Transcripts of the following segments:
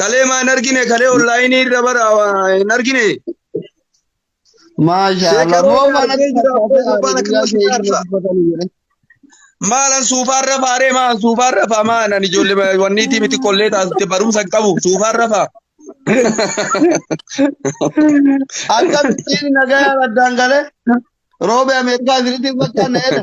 Kalee maa hin argine kalee onlaayinii irra bara waa hin argine. Maashaa Allah. Sheekaroo Moo mana argee jira, abboo gurbaan akkana si faarsa. Maalan suufaan rafaa ree maalan suufaan rafaa maalan ijoollee wanniitii miti kollee taasifte barumsa hin qabu suufaan rafaa. Akkamittiin nagayaan addaan galee roobee Ameerikaa isinitti hin fakkaanne jedha.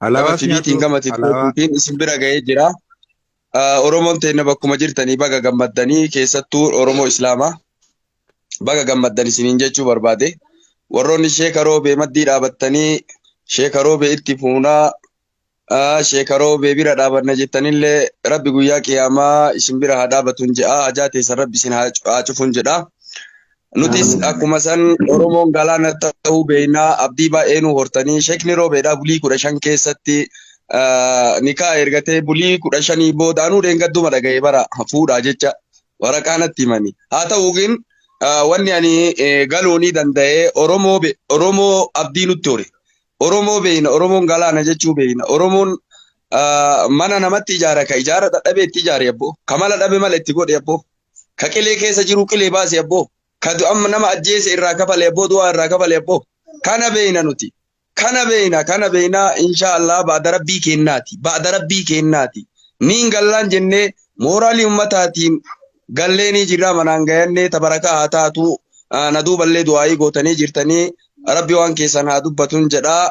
Alaabaa Alaabaa tiviitiin siyaatu gama alaabaa tiktokiitiin isin bira ga'ee jira. Ah, Oromoon teenna bakkuma jirtanii baga gammaddanii keessattuu Oromoo Islaamaa baga gammaddan isiniin jechuu barbaade. Warroonni Sheeka Roobee maddii dhaabattanii Sheeka Roobee itti fuunaa ah, Sheeka Roobee bira dhaabanna jettanillee Rabbi guyyaa qiyaamaa isin bira haa dhaabatuun jedha. Hajaa teessan Rabbi isin haa cu- haa cufuun jedha. Nutis akkuma san Oromoon galaana ta'uu beeknaa abdii baay'ee nu hortanii sheekni roobeedhaa bulii kudha shan keessatti nikaa ergatee bulii kudha shanii booda anuu dheengadduma dhaga'e bara fuudhaa jecha waraqaa natti himani. Haa ta'uukin wanni ani galuunii danda'e Oromoo Oromoo abdii nutti hore. Oromoo beekna Oromoon galaana jechuu beekna Oromoon mana namatti ijaara ka ijaara dadhabee itti ijaare abboo kamala dhabe mala itti godhe abboo. Ka qilee keessa jiru qilee baasi abboo. Ka du'an nama ajjeese irraa kafale abboo du'aa irraa kafale abboo. Kana beeyna nuti. Kana beeyna kana beeyna inshaa Allah ba'da rabbii keennaati. Ba'da rabbii keennaati. Niin gallaan jennee mooraalii ummataatiin galleenii jirraa manaan gayannee tabarakaa haa taatuu na duuballee du'aayii gootanii jirtanii rabbi waan keessan haa dubbatun jedhaa.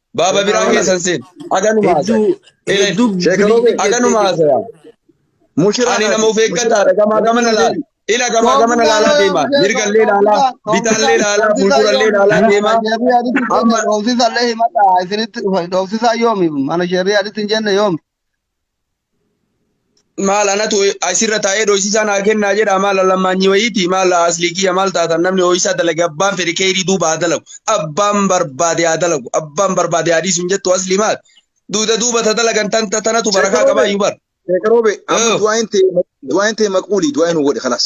Baaba biraa keessan seen. Aganuma haasaya. Hedduu Ilay. hedduu Sheekanoo bilii bee. Aganuma haasaya. Mushiraa Ani nama of eeggadhaa dhagamaa gama na laala. Ila gamaa gama na laalaa deemaa. Mirgallee laalaa, bitaallee laalaa, fuuldurallee laalaa deemaa. Amma dhoofsisallee himadha isinitti dhufan dhoofsisaa yoomi mana sheerrii aditti hin jenne yoomi maal anatu asirra taa'ee dhoysisaa naa kennaa jedha maal lammaanyi wayiiti maal aslii kiyya maal taatan namni ho'isaa dalage abbaan fedhe keeyrii duuba haa dalagu abbaan barbaade haa dalagu abbaan barbaade haa dhiisu hin jettu aslii maal duuda duuba ta dalagan tan ta- tanatu barakaa qabaa iyyuu bar Sheekh Roobe, amma Yoo. du'aayin ta'e du'aayin ta'e maqbuuli du'aayin godhe kalaas.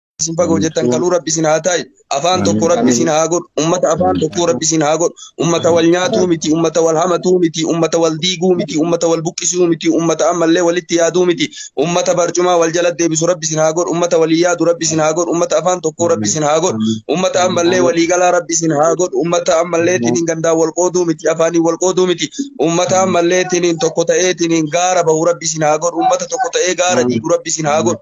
isin baga hojjettan kaluu rabbi isin haa taa'e afaan tokko rabbi isin haa godhu ummata afaan tokko rabbi isin haa godhu ummata wal nyaatuu miti ummata wal hamatuu miti ummata wal diiguu miti ummata wal buqqisuu miti ummata ammallee walitti yaaduu miti ummata barcumaa wal jala deebisu rabbi isin haa godhu ummata walii yaadu rabbi isin haa godhu ummata afaan tokko rabbi isin haa godhu ummata ammallee walii galaa rabbi isin haa godhu ummata ammallee tiniin gandaa wal qooduu miti afaanii wal qooduu miti ummata ammallee tiniin tokko ta'ee tiniin gaara bahu rabbi isin haa godhu ummata tokko ta'ee gaara diigu rabbi isin haa godhu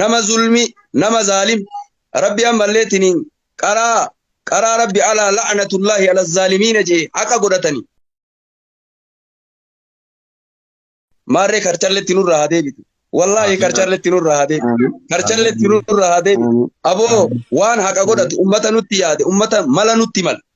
nama zulmi nama zaalim rabbi ammallee tiniin qaraa qaraa rabbi alaa la'natullaahi ala zaalimiina jee haqa godhatani maarree karchalletti nurraa haa deebitu wallaahi karchalletti nurraa haa deebitu karchalletti nurraa haa deebitu aboo waan haqa godhatu ummata nutti yaade ummata mala nutti mala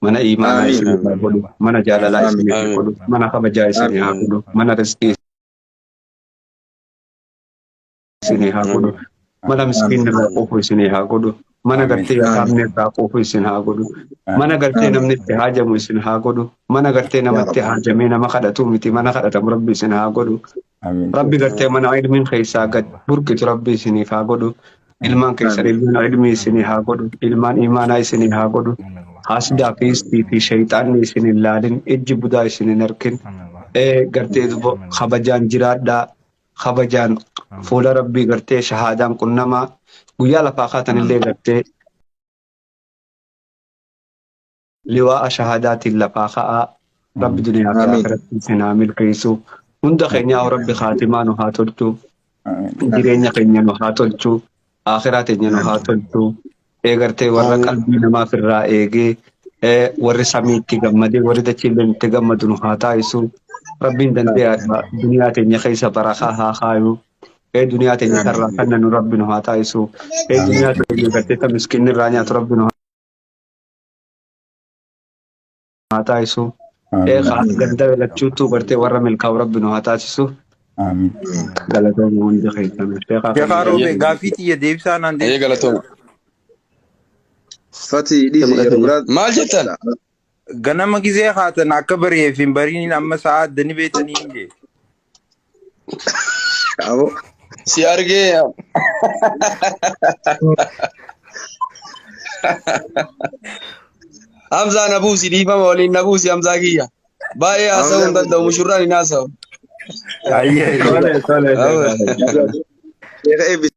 mana iimaanaa Aamiin. isinii haa Aamiin. godhu mana jaalalaa Aamiin. isinii haa Aamiin. godhu mana kabajaa isinii haa Aamiin. godhu mana rizqii isinii haa godhu Aamiin. mana miskiinni irraa Aamiin. quufu isinii haa godhu mana Aamiin. gartee Aamiin. yataamni irraa quufu isin haa godhu mana gartee Aamiin. namni itti haajamu isin haa godhu mana gartee Yaa namatti Rabbi. haajamee nama kadhatuu miti mana kadhatamu rabbi isin haa godhu Amiin. Rabbi gartee mana ilmiin keessaa gad burqitu rabbi isiniif haa godhu. Ilmaan keessan ilmaan ilmii isinii haa godhu. Ilmaan imaanaa isinii haa godhu. Haasdaa fi istii fi shayxaanni isin hin laalin. Ijji budaa isin hin arkin. Ee gartee dubo kabajaan jiraadhaa. Kabajaan fuula rabbii gartee shahaadaan qunnamaa. Guyyaa lafaa kaatan illee gartee liwaa'a shahaadaatiin lafaa ka'aa rabbi duniyaa fi Amiin. akhiratti isin haa milkeessu hunda keenyaa rabbi kaatimaa nu haa tolchu Amiin. jireenya keenya nu haa tolchu akhiraa teenya nu haa tolchu eegartee warra Amiin. qalbii namaaf irraa eegee eh, warri samii itti gammadee warri dachiilleen itti gammadu nu haa taasisu rabbiin dandeeyaadha duniyaa teenya keessa barakaa haa kaayu ee duniyaa teenya tarraa kanna nu rabbi nu haa taasisu ee duniyaa teenya gartee ta miskinni irraa nyaatu rabbi nu haa haa taasisu. Ee Amiin. kaan ganda lachuutu bartee warra milkaa'u rabbi nu haa taasisu. Amiin. Galatooma hundi keessan. Sheekaa kan Sheekaa Ayyee. Roobee gaaffii xiyya deebisaa naan Ayyee deebisu. galatooma. Fati Itti dhiisi yeroo mul'atanii. biraa Maal jettan? Ganama gizee haatan akka bari'eef hin bariin amma sa'a addani beektanii hin jee. Aboo. Si argee yaa. Hamzaa na buusi dhiifama waliin na buusi Hamzaa kiyya. Baay'ee haasa'uu hin danda'u mushurraan hin haasa'u. Ayyee. Tole tole. Aboo. Sheeka eebbisi.